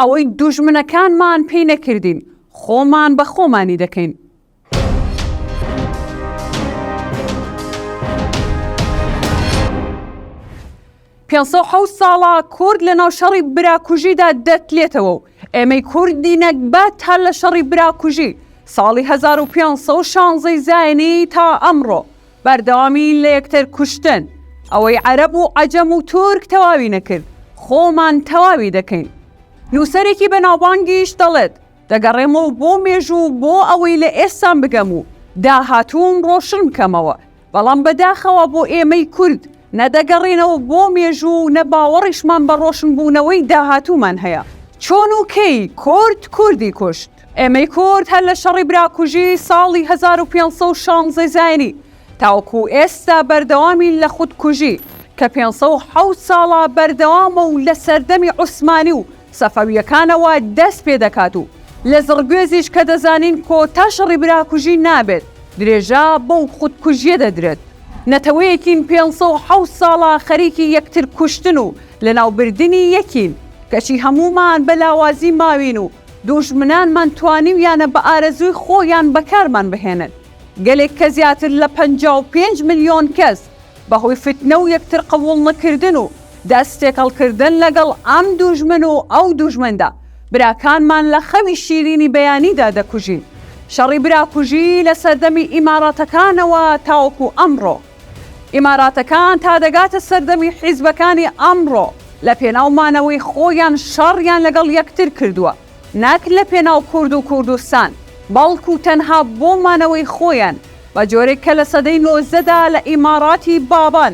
ئەوەی دوژمنەکانمان پێی نەکردین خۆمان بە خۆمانی دەکەین. پێ ساڵە کورد لە ناو شەڕی براکوژیدا دەتلێتەوە و ئێمەی کوردی نەگبە تا لە شەڕی براکوژی ساڵی 1516 زایانی تا ئەمڕۆ بەردەوامی لە یەکتر کوشتن، ئەوەی عەرەب و عەجەم و تورک تەواوی نەکرد، خۆمان تەواوی دەکەین. نووسەرێکی بەناوبانگیش دەڵێت، دەگەڕێمەوە بۆ مێژوو بۆ ئەوەی لە ئێستام بگەم و داهاتووم ڕۆشن بکەمەوە، بەڵام بەداخەوە بۆ ئێمەی کورد، نە دەگەڕێینەوە بۆ مێژوو و نە باوەڕیشمان بە ڕۆشنبوونەوەی داهاتوومان هەیە. چۆن و کەی کورد کوردی کوشت؟ ئێمەی کورد هەر لە شەڕی براکوژی ساڵی هەزار و پێنج سەد و شانزە زاینی تاوەکو ئێستا بەردەوامین لە خودکوژی کە پێنج سەد و حەوت ساڵە بەردەوامە و لە سەردەمی عوسمانی و سەفەوییەکانەوە دەست پێ دەکات و لە زڕگوێزیش کە دەزانین کۆتا شەڕی براکوژی نابێت درێژە بەو خودکوژییە دەدرێت. نەتەوەیەکین پێنج سەد و حەوت ساڵە خەریکی یەکتر کوشتن و لەناوبردنی یەکین، کەچی هەموومان بە لاوازی ماوین و دوژمنانمان توانیویانە بە ئارەزووی خۆیان بەکارمان بهێنن. گەلێک کە زیاتر لە پەنجا و پێنج ملیۆن کەس بە هۆی فتنە و یەکتر قبوڵنکردن و دەست تێکەڵکردن لەگەڵ ئەم دوژمن و ئەو دوژمندا، براکانمان لە خەوی شیرینی بەیانیدا دەکوژین، شەڕی براکوژی لە سەردەمی ئیماراتەکانەوە تاوەکو ئەمڕۆ. ئیماراتەکان تا دەگاتە سەردەمی حیزبەکانی ئەمڕۆ، لە پێناو مانەوەی خۆیان شەڕیان لەگەڵ یەکتر کردووە، نەک لە پێناو کورد و کوردستان، بەڵکو تەنها بۆ مانەوەی خۆیان، بە جۆرێک کە لە سەدەی نۆزدەدا لە ئیماراتی بابان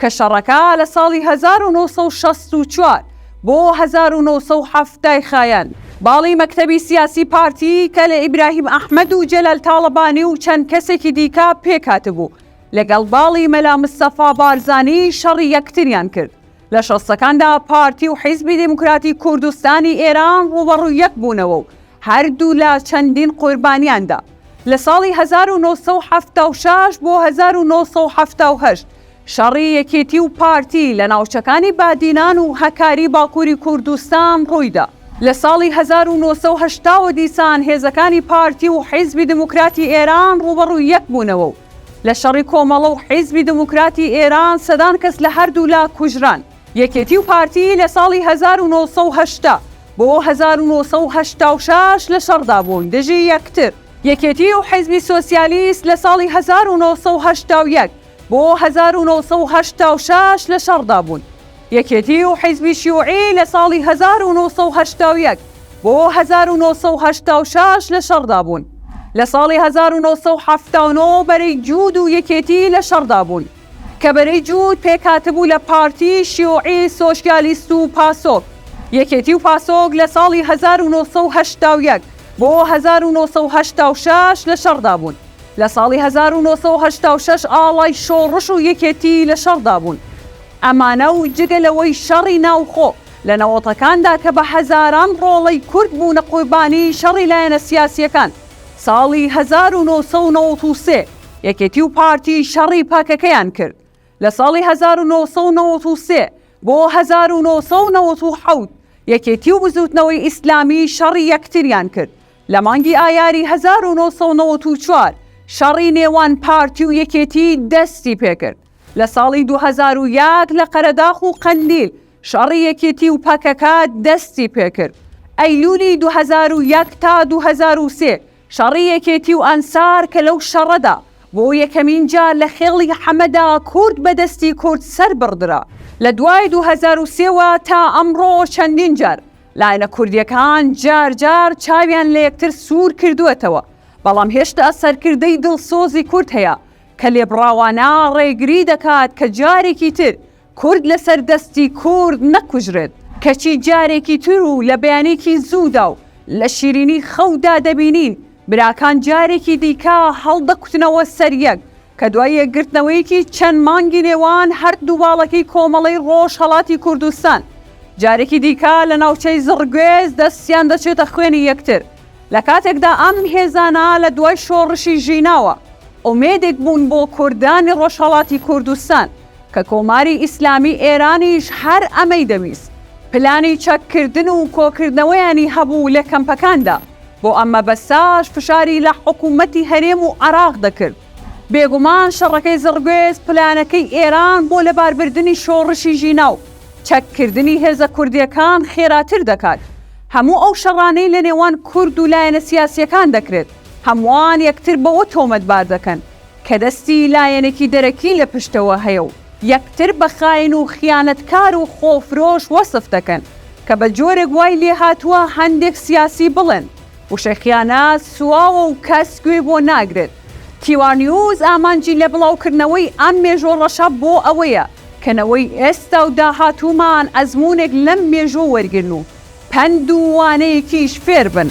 کە شەڕەکە لە ساڵی هەزار و نۆ سەد و شەست و چوار بۆ هەزار و نۆ سەد و حەفتا ی خایاند باڵی مەکتەبی سیاسی پارتی کە لە ئیبراهیم ئەحمەد و جەلال تاڵەبانی و چەند کەسێکی دیکە پێکهاتبوو لەگەڵ باڵی مەلا مستەفا بارزانی شەڕی یەکتریان کرد لە شەستەکاندا پارتی و حیزبی دێموکراتی کوردستانی ئێران ڕووبەڕووی یەک بوونەوە و هەردوولا چەندین قوربانیان دا. لە ساڵی هەزار و نۆ سەد و حەفتا و شەش بۆ هەزار و نۆ سەد و حەفتا و هەشت شەڕی یەکێتی و پارتی لە ناوچەکانی بادینان و هەکاری باکووری کوردستان ڕوویدا. لە ساڵی هەزار و نۆ سەد و هەشتا وە دیسان هێزەکانی پارتی و حیزبی دموکراتی ئێران ڕووبەڕووی یەک بوونەوە و لە شەڕی کۆمەڵە و حیزبی دموکراتی ئێران سەدان کەس لە هەردوولا کوژران. یەکێتی و پارتی لە ساڵی هەزار و نۆ سەد و هەشتا بۆ هەزار و نۆ سەد و هەشتا و شەش لە شەڕدا بوون دژی یەکتر. یەکێتی و حیزبی سۆسیالیست لە ساڵی هەزار و نۆ سەد و هەشتا و یەک بۆ هەزار و نۆ سەد و هەشتا و شەش لە شەڕدا بوون. یەکێتی و حیزبی شیوعی لە ساڵی هەزار و نۆ سەد و هەشتا و یەک بۆ هەزار و نۆ سەد و هەشتا و شەش لە شەڕدا بوون. لە ساڵی هەزار و نۆ سەد و حەفتا و نۆ بەرەی جوود و یەکێتی لە شەڕدا بوون. کە بەرەی جووت پێکهاتبوو لە پارتی، شیوعی، سۆشیالیست و پاسۆک. یەکێتی و پاسۆک لە ساڵی هەزار و نۆ سەد و هەشتا و یەک بۆ هەزار و نۆ سەد و هەشتا و شەش لە شەڕدا بوون. لە ساڵی هەزار و نۆ سەد و هەشتا و شەش ئاڵای شۆڕش و یەکێتی لە شەڕدا بوون. ئەمانە و جگە لەوەی شەڕی ناوخۆ لە نەوەتەکاندا کە بە هەزاران ڕۆڵەی کورد بوونە قوربانیی شەڕی لایەنە سیاسییەکان، ساڵی هەزار و نۆ سەد و نەوەد و سێ، یەکێتی و پارتی شەڕی پەکەکەیان کرد لە ساڵی هەزار و نۆ سەد و نەوەد و سێ بۆ هەزار و نۆ سەد و نەوەد و حەوت، یەکێتی و بزووتنەوەی ئیسلامی شەڕی یەکتریان کرد لە مانگی ئایاری هەزار و نۆ سەد و نەوەد و چوار شەڕی نێوان پارتی و یەکێتی دەستی پێکرد لە ساڵی دوو هەزار و یەک لە قەرەداخ و قەندیل شەڕی یەکێتی و پەکەکە دەستی پێکرد ئەیلولی دوو هەزار و یەک تا دوو هەزار و سێ شەڕی یەکێتی و ئەنسار کە لەو شەڕەدا بۆ یەکەمین جار لە خێڵی حەمەدا کورد بە دەستی کورد سەربڕدرا لە دوای دوو هەزار و سێ وە تا ئەمڕۆ چەندین جار لایەنە کوردیەکان جار جار چاویان لە یەکتر سوور کردووەتەوە بەڵام هێشتا سەرکردەی دڵسۆزی کورد هەیە کە لێبڕاوانە ڕێگری دەکات کە جارێکی تر کورد لەسەر دەستی کورد نەکوژرێت، کەچی جارێکی تر و لە بەیانێکی زوودا و لە شیرینی خەودا دەبینین براکان جارێکی دیکە هەڵدەکوتنەوە سەر یەک، کە دوای یەکگرتنەوەیەکی چەند مانگی نێوان هەردوو باڵەکەی کۆمەڵەی ڕۆژهەڵاتی کوردستان، جارێکی دیکە لە ناوچەی زڕگوێز دەستیان دەچێتە خوێنی یەکتر، لە کاتێکدا ئەم هێزانە لە دوای شۆڕشی ژیناوە ئومێدێک بوون بۆ کوردانی ڕۆژهەڵاتی کوردستان. کە کۆماری ئیسلامی ئێرانیش هەر ئەمەی دەویست، پلانی چەککردن و کۆکردنەوەیانی هەبوو لە کەمپەکاندا، بۆ ئەم مەبەستەش فشاری لە حکوومەتی هەرێم و عێراق دەکرد. بێگومان شەڕەکەی زڕگوێز پلانەکەی ئێران بۆ لەباربردنی شۆڕشی ژینا و چەککردنی هێزە کوردییەکان خێراتر دەکات. هەموو ئەو شەڕانەی لەنێوان کورد و لایەنە سیاسییەکان دەکرێت، هەمووان یەکتر بەوە تۆمەتبار دەکەن، کە دەستی لایەنێکی دەرەکی لە پشتەوە هەیە و یەکتر بە خاین و خیانەتکار و خۆفرۆش وەسف دەکەن، کە بە جۆرێک وای لێهاتووە هەندێک سیاسی بڵێن، وشەی خیانەت سواوە و کەس گوێی بۆ ناگرێت. تیوارنیوز ئامانجی لە بڵاوکردنەوەی ئەم مێژووە ڕەشە بۆ ئەوەیە، کە نەوەی ئێستا و داهاتوومان ئەزموونێک لەم مێژووە وەرگرن و پەند و وانەیەکیش فێر بن.